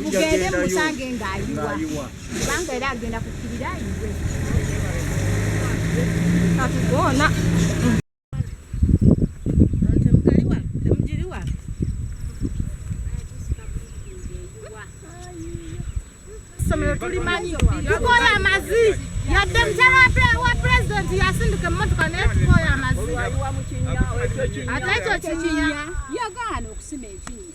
mugende musange ng'ayiwa kubanga era agenda kukirira ayiwe katugoona tukoye amazi yadde mukyala wa pulezidenti yasindika emmotoka naye tukoye amazi ate ekyo kikinya yagaana okusima ekinya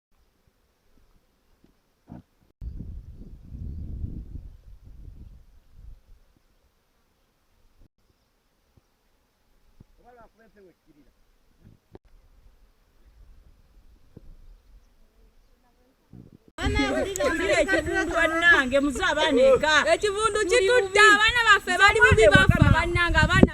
ekivundu bannange muze abaana eka ekivundu kitudde abaana baffe bali bubi bafa bannange abaana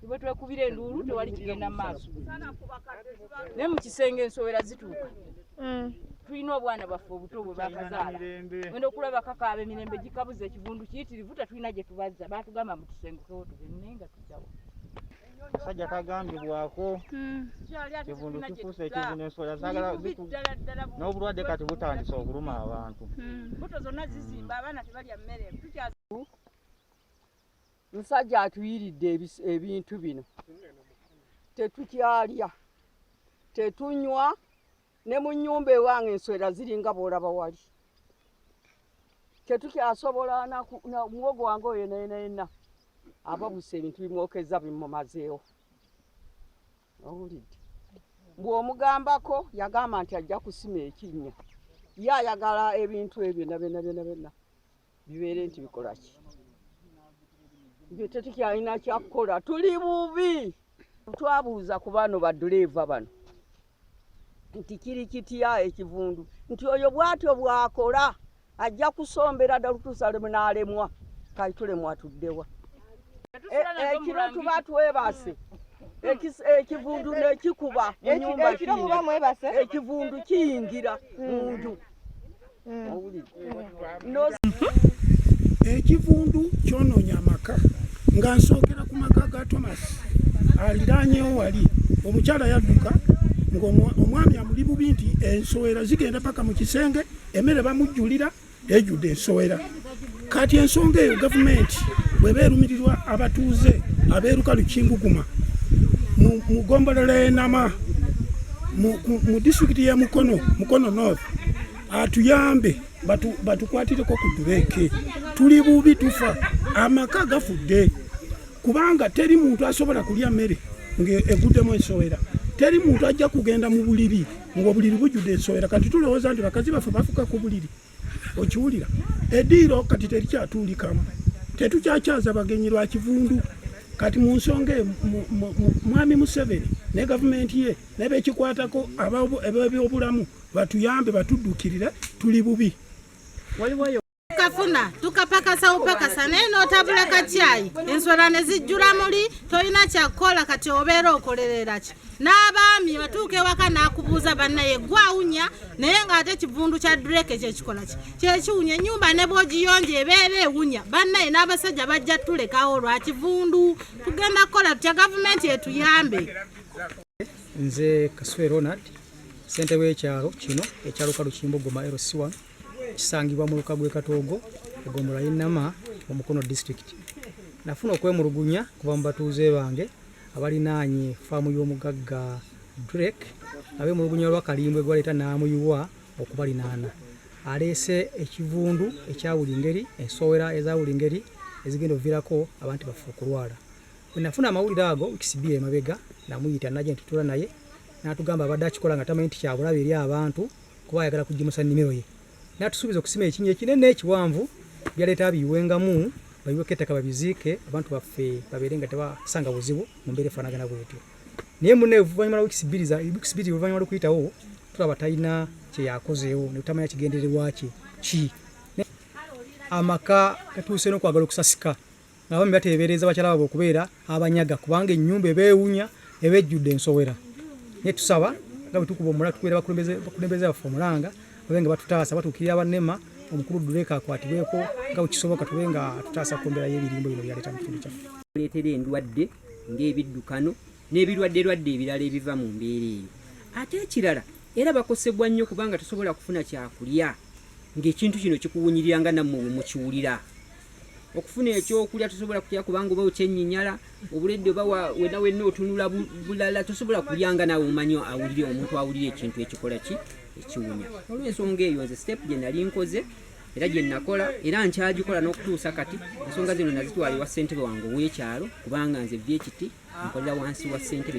tube twekubira enduulu tewali kigenda mu maaso naye mu kisenge ensowera zituuka mm. tulina obwana bwaffe obuto bwe bakazaala wenda okulaba kakaaba emirembe gikabuza ekivundu kiyitirivu tetulina gye tubazza baatugamba mu tusengukewo tugende naye nga tuddawo akasajja kagambibwako hmm. kivundu kifuusa ekivundu enswera zagala n'obulwadde kati butandise okuluma abantu hmm. musajja atuyiridde ebintu bino tetukyalya tetunywa ne mu nyumba ewange enswera ziringa bwolaba wali tetukyasobola muwogo wange oyo nayenayena ababuse ebintu bimwokezza bimumazeewo owulidde bw'omugambako yagamba nti ajja kusima ekinnya ye ayagala ebintu ebyo nabyona byona byona bibeere nti bikola ki nge tetukyalina kyakukola tuli bubi twabuuza ku bano baduleeva bano nti kiri kitya ekivundu nti oyo bwatyo bwakola ajja kusombera ddala kutuusa lwemunaalemwa kati tulemwa tuddewa e, ekiro tuba twebase ekivundu nekikuba munyumba ekivundu kiyingira munju ekivundu kyononya amaka nga nsookera ku maka ga thomas aliranyewo wali omukyala yadduka ngaomwami amuli bubi nti ensowera zigenda paka mu kisenge emere bamujjulira ejjudde ensowera kati ensonga eyo gavumenti bweba erumirirwa abatuuze abeeruka lukinguguma mu gombolola enama mu disitulikiti ya mukono mukono north atuyambe batukwatireko ku dureeke tuli bubi tufa amaka gafudde kubanga teri muntu asobola kulya mmere ng'eguddemu ensowera teri muntu ajja kugenda mu buliri ng'obuliri bujjudde ensowera kati tulowooza nti bakazi baffe bafuka ku buliri okiwulira ediiro kati terikyatuulikamu tetukyakyaza bagenyi lwa kivundu kati mu nsonga e, mwami museveni ne gavumenti ye nebekikwatako abebyobulamu batuyambe batuddukirire tuli bubi kafuna tukapakasa upakasa naye notabula kakyayi enswera ne zijjula muli tolina kyakukola kati obeera okolerera ki n'abaami batuuka ewaka n'akubuuza bannaye gwawunya naye ng'ate ekivundu kya dureke kyekikola ki kyekiwunya ennyumba ne bwogiyonja ebeera ewunya bannaye n'abasajja bajja tulekawo lwa kivundu tugenda kukola tutya gavumenti etuyambe nze kasule ronald sente w'ekyalo kino ekyaluka lukimbogoma lc1 kisangibwa mu luka gw'ekatoogo egombolola y'enama mu mukono disitulikiti nafuna okwemulugunya kuva mu batuuze bange abalinaanye faamu y'omugagga Drake abemulugunya lwa kalimbwe gwaleeta n'amuyiwa okubalinaana aleese ekivundu ekya buli ngeri ensowera eza buli ngeri ezigenda ovirako abantu baffe okulwala wenafuna amawulire ago wikisibi emabega namuyita naje ntutula naye natugamba abadde akikola nga tamanyi nti kyabulabe eri abantu kuba ayagala kugimusa nimiro ye N'atusuubiza okusima ekinnya ekinene ekiwanvu byaleeta abiyiwengamu bayiweko ettaka babiziike abantu baffe babeere nga tebasanga buzibu mu mbeera efaanagana bwetyo. Naye mune oluvannyuma lwa wiikisi bbiri wiikisi bbiri oluvannyuma lw'okuyitawo tulaba talina kye yakozeewo ne tutamanya kigendererwa kye ki amaka gatuuse n'okwagala okusasika. Abaami bateebereza bakyala baabwe okubeera abanyaga kubanga ennyumba ebeewunya eba ejjudde ensowera. Naye tusaba nga bwe tukuba omulala tukubeera bakulembeze baffe omulanga babe nga batutaasa batuukirira bannema omukulu Duleka akwatibweko nga bwe kisoboka tube nga tutaasa ku mbeera y'ebirimbo bino byaleeta mu kitundu kyaffe. Kuleetera endwadde ng'ebiddukano n'ebirwadderwadde ebirala ebiva mu mbeera eyo. Ate ekirala era bakosebwa nnyo kubanga tosobola kufuna kyakulya ng'ekintu kino kikuwunyirira nga nammwe bwe mukiwulira. okufuna ekyokulya tosobola kulya kubanga oba okyenyinyala obuledde oba wena wenna otunula bulala tosobola kulyanga nawe omanyi awulire omuntu awulire ekintu ekikola ki ekiwunya olwensonga eyo nze step gye nali nkoze era gye nakola era nkyagikola n'okutuusa kati ensonga zino nazitwala ewa ssentebe wange ow'ekyalo kubanga nze byekiti nkolera wansi wa ssentebe